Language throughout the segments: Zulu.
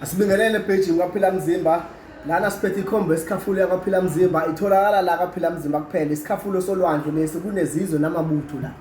Asibingelele page kwaphila mzimba lana siphethe ikhombo esikhafulo yakwaphila mzimba itholakala la kwaphila mzimba kuphela isikhafulo solwandle lesi kunezizwe namabutho la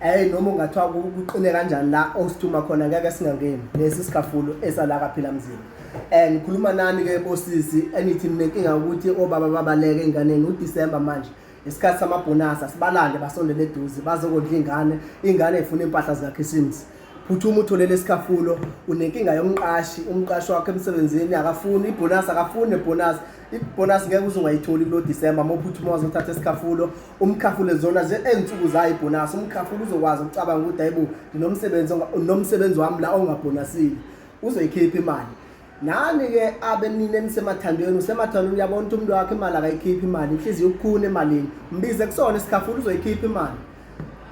eh noma ungathiwa kuqine kanjani la osithuma khona ngeke singangeni lesi sikhafulo esala kwaphila mzimba eh ngikhuluma nani ke bosisi enithi mina inkinga ukuthi obaba babaleke enganeni uDecember manje isikhathi samabhonasa sibalande basondele eduze bazokondla ingane ingane ifuna impahla zikakhisimusi phuthuma uthole lesikhafulo unenkinga yomqashi umqashi wakho emsebenzini akafuni ibhonasi akafuni nebhonasi ibhonasi ngeke uze ungayitholi kulo disemba uma uphuthuma wazothatha isikhafulo umkhafule zona ezinsuku zayo ibhonasi umkhafule uzokwazi ukucabanga ukuthi hayibo ndinomsebenzi nomsebenzi wami la ongabhonasile uzoyikhipha imali nani ke abe nina enisemathandweni usemathandweni uyabona ukuthi umuntu wakhe imali akayikhiphi imali inhliziyo ukukhuna emalini mbize kusona isikhafula uzoyikhipha imali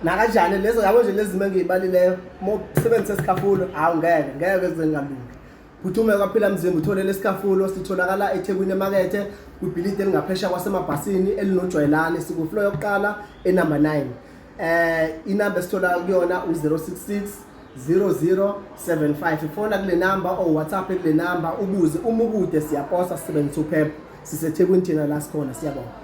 nakanjani lezo yabo nje lezi zimo engiyibalileyo uma usebenzisa isikhafulo hawu ngeke ngeke zengalungi phuthume kwaphila mzimba uthole lesikhafulo sitholakala ethekwini emakethe kwibhilidi elingaphesha kwasemabhasini elinojwayelane sikuflo yokuqala enumber 9 eh inamba esithola kuyona u066 0075 ifona kule namba or whatsapp kule namba ubuze uma ukude siyaposa sisebenzisa uphepha sisethekwini thina la sikhona siyabonga